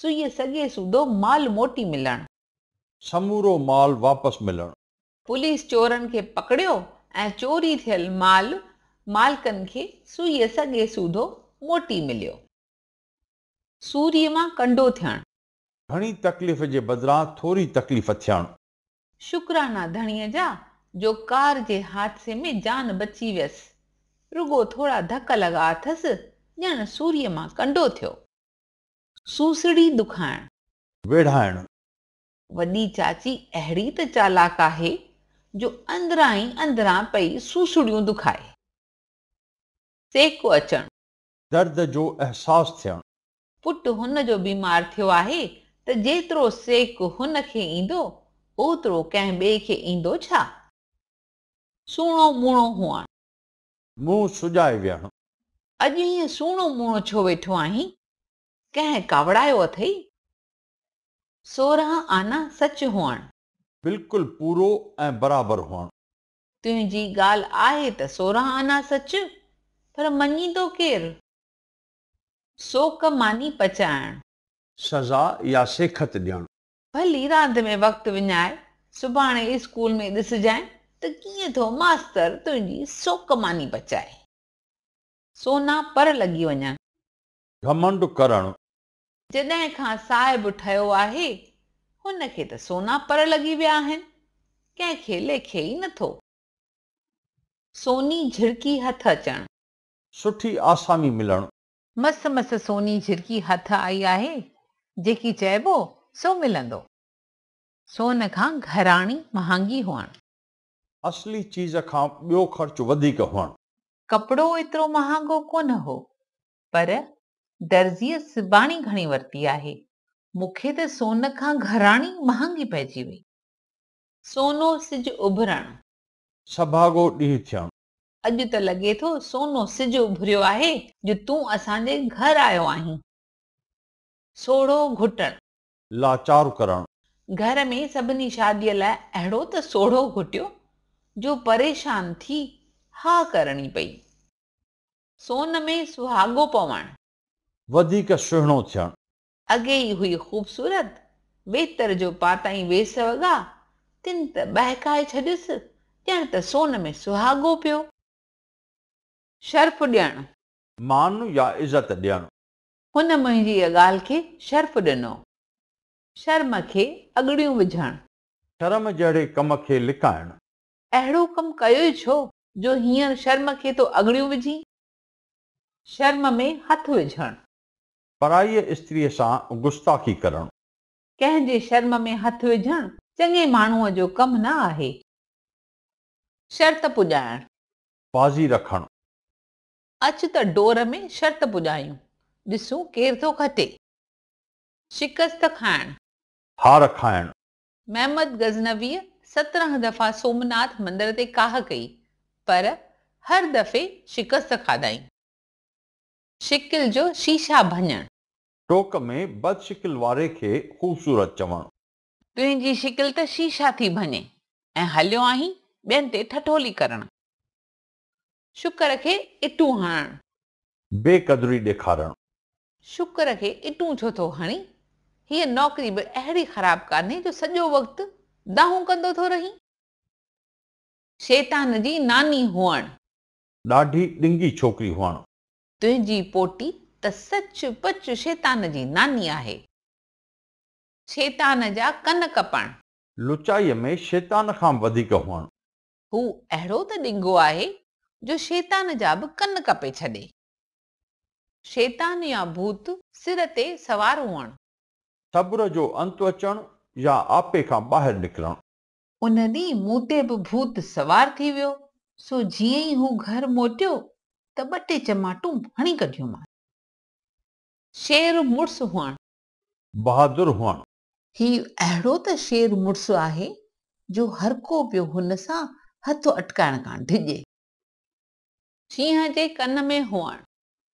سوئي سڳي سودو مال موٽي ملڻ. سمورو مال واپس ملڻ. پوليس چورن کي پڪڙيو ۽ چوري ٿيل مال مالڪن کي سوئي سڳي سودو موٽي مليو. سوري مان ڪنڊو ٿيڻ. گهڻي تڪليف جي بدران ٿوري تڪليف ٿيڻ. شڪرانا ڌڻيء جا جو ڪار جي حادثي ۾ جان بچي ويس. رڳو ٿورا ڌڪ لڳا اٿس، ڄڻ سوريء مان ڪنڊو ٿيو. سوسڙي دکائڻ. ويڙهائڻ. وڏي چاچي اهڙي ته چالاڪ آهي جو اندران ئي اندران پئي سوسڙيون دکائي. سيڪ اچڻ. درد جو احساس ٿيڻ. پٽ هن جو بيمار ٿيو آهي ته جيترو سيڪ هن کي ايندو، اوترو ڪنهن ٻئي کي ايندو ڇا؟ سوڻو موڻو هئڻ. منهن سجائي ويهڻ. اڄ هيئن سوڻو موڻو ڇو ويٺو آهين؟ ڪنهن ڪاوڙايو اٿئي؟ سورهن آنا سچ هئڻ. بلڪل پورو ۽ برابر هئڻ. تنهنجي ڳالهه آهي ته سورهن آنا سچ، پر مڃيندو ڪير؟ سوڪ ماني پچائڻ. سزا يا سيکت ڏيڻ. ڀلي راند ۾ وقت وڃائي، سڀاڻي اسڪول ۾ ڏسجانء ته ڪيئن ٿو ماستر تنهنجي سوڪ ماني پچائي. سونا پر لڳي وڃن. گهمنڊ ڪرڻ، جڏهن کان صاحب ٺهيو آهي، هن کي ته سونا پر لڳي ويا آهن، ڪنهن کي ليکي ئي نه ٿو. سوني جهرڪي هٿ اچڻ. سٺي آسامي ملڻ. مس مس سوني جهرڪي هٿ آئي آهي، جيڪي چئبو سو ملندو. سون کان گهراڻي مهانگي هئڻ. اصلي چيز کان ٻيو خرچ وڌيڪ هئڻ. ڪپڙو ايترو مهانگو ڪونه هو، پر درزيء سباڻي گهڻي ورتي آهي. مون کي ته سون کان گهراڻي مهانگي پئجي وئي. سونو سج اڀرڻ. سڀاڳو ڏينهن ٿيڻ. اڄ ته لڳي ٿو سونو سج اڀريو آهي جو تون اسان جي گهر آيو آهين. سوڙهو گهٽڻ. لاچار ڪرڻ. گهر ۾ سڀني شاديء لاء اهڙو ته سوڙهو گهٽيو جو پريشان ٿي هاء ڪرڻي پئي. سون ۾ سهاڳو پوڻ. وڌيڪ سهڻو ٿيڻ. اڳي ئي هئي خوبصورت، ويتر جو پاتائين ويس وڳا، تن ته ٻهڪائي ڇڏيس، ڄڻ ته سون ۾ سهاڳو پيو. شرف ڏيڻ. مان يا عزت ڏيڻ. هن منهنجي ڳالهه کي شرف ڏنو. شرم کي اڳڙيون وجهڻ. شرم جهڙي ڪم کي لڪائڻ. اهڙو ڪم ڪيو ئي ڇو جو هينئر شرم کي تو اڳڙيون وجهين؟ شرم ۾ هٿ وجهڻ. پرائيء استريء سان گستاخي ڪرڻ. ڪنهن جي شرم ۾ هٿ وجهڻ چڱي ماڻهوء جو ڪم نه آهي. شرط پڄائڻ. بازي رکڻ. اچ ته ڊور ۾ شرط پڄايون، ڏسون ڪير ٿو کٽي. شڪست کائڻ. هار کائڻ. محمد غزنويء سترنهن دفعا سومناٿ مندر تي ڪاهه ڪئي، پر هر دفعي شڪست کاڌائين. شڪل جو شيشا ڀڃڻ. ٽوڪ ۾ بد شڪل واري کي خوبصورت چوڻ. تنهنجي شڪل ته شيشا ٿي ڀڃي ۽ هليو آهين ٻين تي ٺٺولي ڪرڻ. شڪر کي اٽون هڻڻ. بي قدري ڏيکارڻ. شڪر کي اٽون ڇو ٿو هڻين؟ هيء نوڪري به اهڙي خراب ڪانهي جو سڄو وقت دانهون ڪندو ٿو رهين. شيطان جي ناني هئڻ. ڏاڍي ڏنگي ڇوڪري هئڻ. تنهنجي پوٽي ته سچ پچ شيطان جي ناني آهي. شيطان جا ڪن ڪپڻ. لچائيء ۾ شيطان کان به وڌيڪ هئڻ. هو اهڙو ته ڏنگو آهي جو شيطان جا به ڪن ڪپي ڇڏي. شيطان يا ڀوت سر تي سوار هئڻ. صبر جو انت اچڻ يا آپي کان ٻاهر نڪرڻ. ان ڏينهن مون تي به ڀوت سوار ٿي ويو، سو جيئن ئي هو گهر موٽيو ته ٻه ٽي چماٽون هڻي ڪڍيومانس. شير مڙس هئڻ. بهادر هئڻ. هي اهڙو ته شير مڙس آهي جو هر ڪو پيو هن سان هٿ اٽڪائڻ کان ڊڄي. شينهن جي ڪن ۾ هئڻ.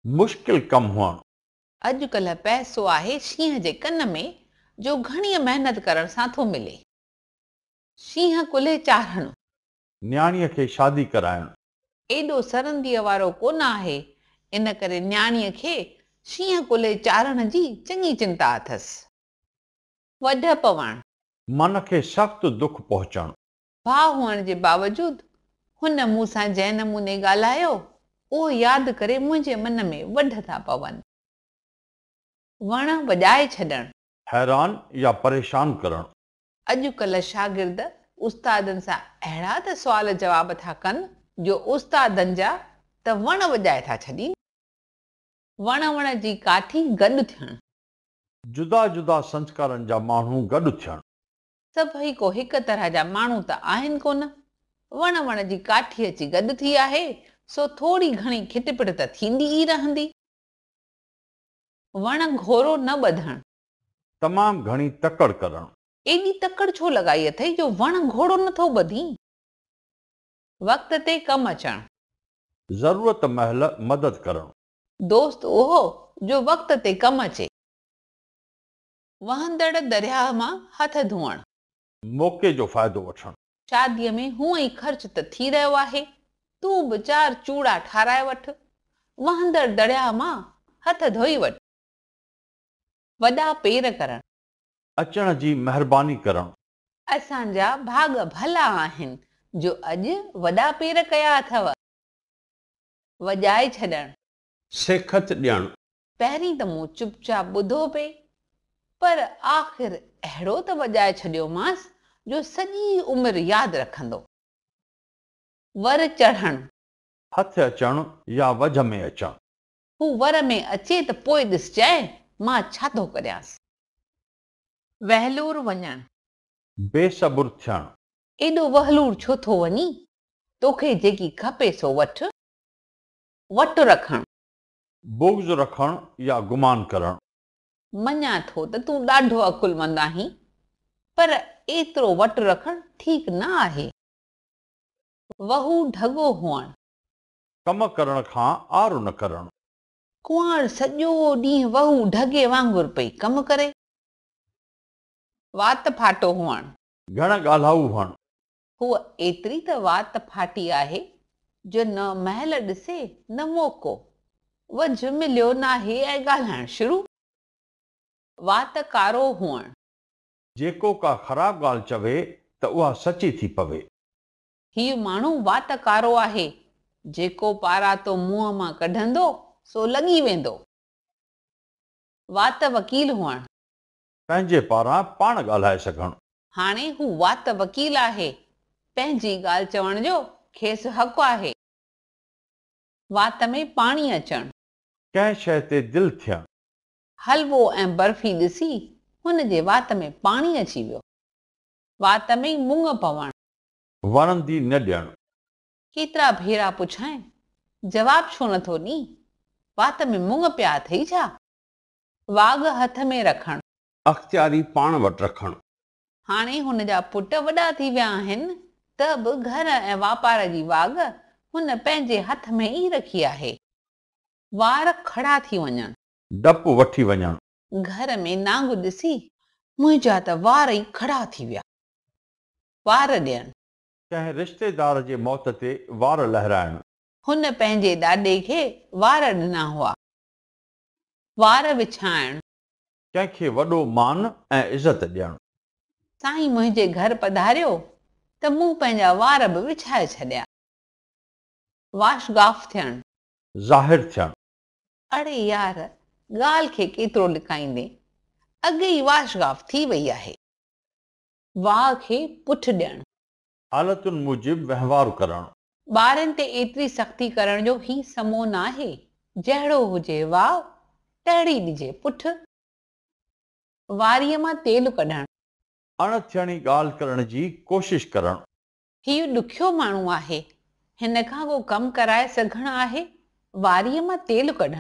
مشڪل ڪم هئڻ. اڄ ڪلهه پئسو آهي شينهن جي ڪن ۾، جو گهڻيء محنت ڪرڻ سان ٿو ملي. شينهن ڪلهي چارهڻ. نياڻيء کي شادي ڪرائڻ. ايڏو سرنديء وارو ڪونه آهي، ان ڪري نياڻيء کي شينهن ڪلهي چاڙهڻ جي چڱي چنتا اٿس. وڍ پوڻ. من کي سخت دک پهچڻ. ڀاء هئڻ جي باوجود هن مون سان جنهن نموني ڳالهايو، اهو ياد ڪري منهنجي من ۾ وڍ ٿا پون. وڻ وڄائي ڇڏڻ. حيران يا پريشان ڪرڻ. اڄڪلهه شاگرد استادن سان اهڙا ته سوال جواب ٿا ڪن جو استادن جا ته وڻ وڄائي ٿا ڇڏين. وڻ وڻ جي ڪاٺي گڏ ٿيڻ. جدا جدا سنسڪارن جا ماڻهو گڏ ٿيڻ. سڀئي ڪو هڪ طرح جا ماڻهو ته آهن ڪونه. وڻ وڻ جي ڪاٺي اچي گڏ ٿي آهي سو ٿوري گهڻي کٽ پٽ ته ٿيندي ئي رهندي. وڻ گهورو نه ٻڌڻ. تمام گهڻي تڪڙ ڪرڻ. ايڏي تڪڙ ڇو لڳائي اٿئي جو وڻ گهوڙو نه ٿو ٻڌين. وقت تي ڪم اچڻ. ضرورت مهل مدد ڪرڻ. دوست اهو جو وقت تي ڪم اچي. وهندڙ درياهه مان هٿ ڌوئڻ. موقعي جو فائدو وٺڻ. شاديء ۾ هونئن ئي خرچ ته ٿي رهيو آهي، تون به چار چوڙا ٺاراهي وٺ. وهندڙ درياهه مان هٿ ڌوئي وٺ. وڏا پير ڪرڻ. اچڻ جي مهرباني ڪرڻ. اسان جا ڀاڳ ڀلا آهن. جو اڄ وڏا پير ڪيا اٿئو. وڄائي ڇڏڻ. سيکت ڏيڻ. پهرين ته مون چپ چاپ ٻڌو پئي پر آخر اهڙو ته وڄائي ڇڏيومانس جو سڄي عمر ياد رکندو. ور چڙهڻ. هٿ اچڻ يا وجهه ۾ اچڻ. هو ور ۾ اچي ته پوء ڏسجانء مان ڇا ٿو ڪريانس. وهلور وڃڻ. بي صبر ٿيڻ. ايڏو وهلور ڇو ٿو وڃين؟ توکي جيڪي کپي سو وٺ. وٽ رکڻ. بغض رکڻ يا گمان ڪرڻ. مڃان ٿو ته تون ڏاڍو عقلمند آهين، پر ايترو وٽ رکڻ ٺيڪ نه آهي. وهو ڍڳو هئڻ. ڪم ڪرڻ کان عار نه ڪرڻ. ڪنوار سڄو ڏينهن وهو ڍڳي وانگر پئي ڪم ڪري. وات ڦاٽو هئڻ. گهڻ ڳالهائو هئڻ. هوء ايتري ته وات ڦاٽي آهي جو نه مهل ڏسي نه موقعو. وجهه مليو ناهي ۽ ڳالهائڻ شروع. وات ڪارو هئڻ. جيڪو ڪا خراب ڳالهه چوي ته اها سچي ٿي پوي. هيء ماڻهو وات ڪارو آهي، جيڪو پاراتو منهن مان ڪڍندو، سو لڳي ويندو. وات وڪيل هئڻ. پنهنجي پاران پاڻ ڳالهائي سگهڻ. هاڻي هو وات وڪيل آهي، پنهنجي ڳالهه چوڻ جو کيس حق آهي. وات ۾ پاڻي اچڻ. ڪنهن شيء تي دل ٿيڻ. حلوو ۽ برفي ڏسي هن جي وات ۾ پاڻي اچي ويو. وات ۾ مڱ پوڻ. وڻندي نه ڄڻ. ڪيترا ڀيرا پڇانء، جواب ڇو نه ٿو ڏين؟ وات ۾ مڱ پيا اٿئي ڇا؟ واڳ هٿ ۾ رکڻ. اختياري پاڻ وٽ رکڻ. هاڻي هن جا پٽ وڏا ٿي ويا آهن ته به گهر ۽ واپار جي واڳ هن پنهنجي هٿ ۾ ئي رکي آهي. وار کڙا ٿي وڃڻ. ڊپ وٺي وڃڻ. گهر ۾ نانگ ڏسي، منهنجا ته وار ئي کڙا ٿي ويا. وار ڏيڻ. ڪنهن رشتيدار جي موت تي وار لهرائڻ. هن پنهنجي ڏاڏي کي وار ڏنا هئا. وار وڇائڻ. ڪنهن کي وڏو مان ۽ عزت ڏيڻ. سائين منهنجي گهر پڌاريو ته مون پنهنجا وار به وڇائي ڇڏيا. واش گاف ٿيڻ. ظاهر ٿيڻ. اڙي يار ڳالهه کي ڪيترو لڪائيندين اڳ ئي واش گاف ٿي وئي آهي. واهه کي پٺ ڏيڻ. حالتن موجب وهنوار ڪرڻ. ٻارن تي ايتري سختي ڪرڻ جو هي سمو ناهي. جهڙو هجي واهه، تهڙي ڏجي پٺ. واريء مان تيل ڪڍڻ. اڻ ٿيڻي ڳالهه ڪرڻ جي ڪوشش ڪرڻ. هيء ڏکيو ماڻهو آهي. هن کان ڪو ڪم ڪرائي سگهڻ آهي. واريء مان تيل ڪڍڻ.